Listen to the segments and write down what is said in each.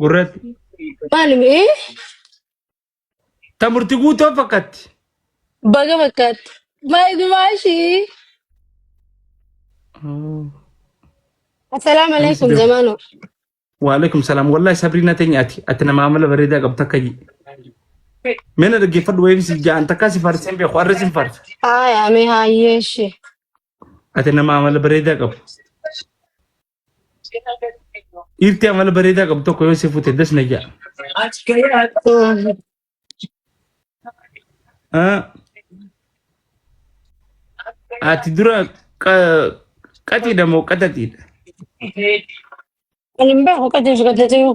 gurratti Maali mee? ta murti guutoo fakkatti Baga fakkaatti. Maali dumaashii? Assalaamu anis alaikum def zamaanoo. waalaikum salaam wallahi sabriina teenya ati ati nama amala bareedaa qabda akka jii mena dhaggeeffadhu wayii si ja'an takkaa si faarseen beeku arra sin faarsa Haaya mee haayyeeshi. ati nama amala bareedaa qabu Dhiirti amala bareedaa qabdu tokko yoo si fute das na ja'a. Ah, Ati dura qa- qaxiidha moo qaxaxiidha? Ani hin beeku qajeelchu qajeelchuu.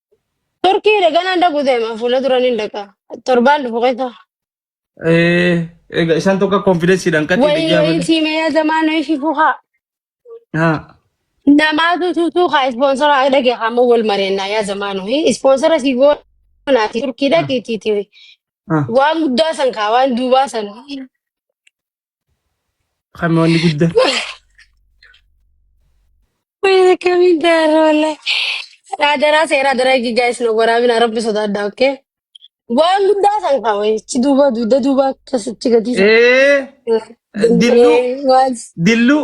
Turkii dhagaa naan dhaqu deema fuula duraan hin dhaqa. Torbaan dhufu keessa. Eh, egaa isaan tokko konfidensiidhaan qaxii Wayii biyyaa wayii malee. siimee zamaan wayii fifuu haa. Haa. Namaatu tuutuu haa ispoonsara dhage haa amma wal mareennaa yaa zamaan wayii. Ispoonsara si goonaati turkii Haa. dhaqiitiiti. Haa. Waan guddaa san kaa waan duubaa san. Kan wanni guddaa. Wayii kamiin daaraa wallee. Raadaraa seeraa daraa eegi gaa'is na waraabina rabbi sodaadha okkee. Waan guddaa san kaa wayichi duuba dugda duuba akkasitti gadiisa. Ee dilluu Danda'ee waan. dilluu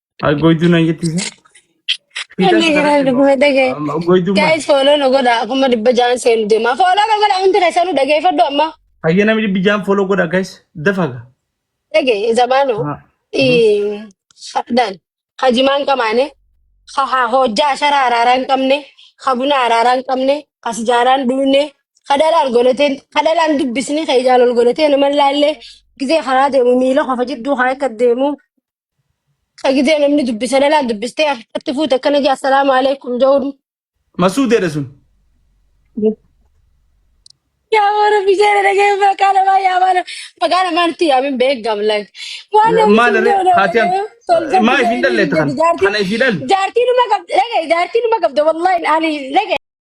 Ay goyduu nan jetti isa. Fiixas Inni kana jiran immoo. dhuguma dhagee. Amma goyduu maal? Guys follow nu godha kuma dhibba jaan seenu deema. Follow nu godha hundi keessan nu dhageeffadhu amma. Hayya namni dhibbi jaan foloo godha guys. Dafaga. Dhagee zamaanu Ha. Mhm. dhan hajimaan qamaane ha ha hojjaa ashara araaraa hin qabne ha buna araaraa hin qabne ha sijaaraa hin dhugne ha dhalaan golateen ha dhalaan dubbisni ha ijaan ol golateen nama laallee gisee karaa deemu miila qofa jidduu haa akka deemu. Sagidee namni dubbisa lalaan dubbistee harkatti fuute akkana jee assalaamu alaikum ja'uun. Masuudeedha sun. Yaa warra biseera dhagee maqaa namaa yaa maana maqaa namaa nutti yaamin beekam lak. Waan namni Maal sun irree yoo haati an yoo tolcha maa ifiin biseera dhalleetta kan jedhi jaartii kana ifii dhalle. jaartii numa qabda dhagee jaartii numa qabda wallahi ani dhagee.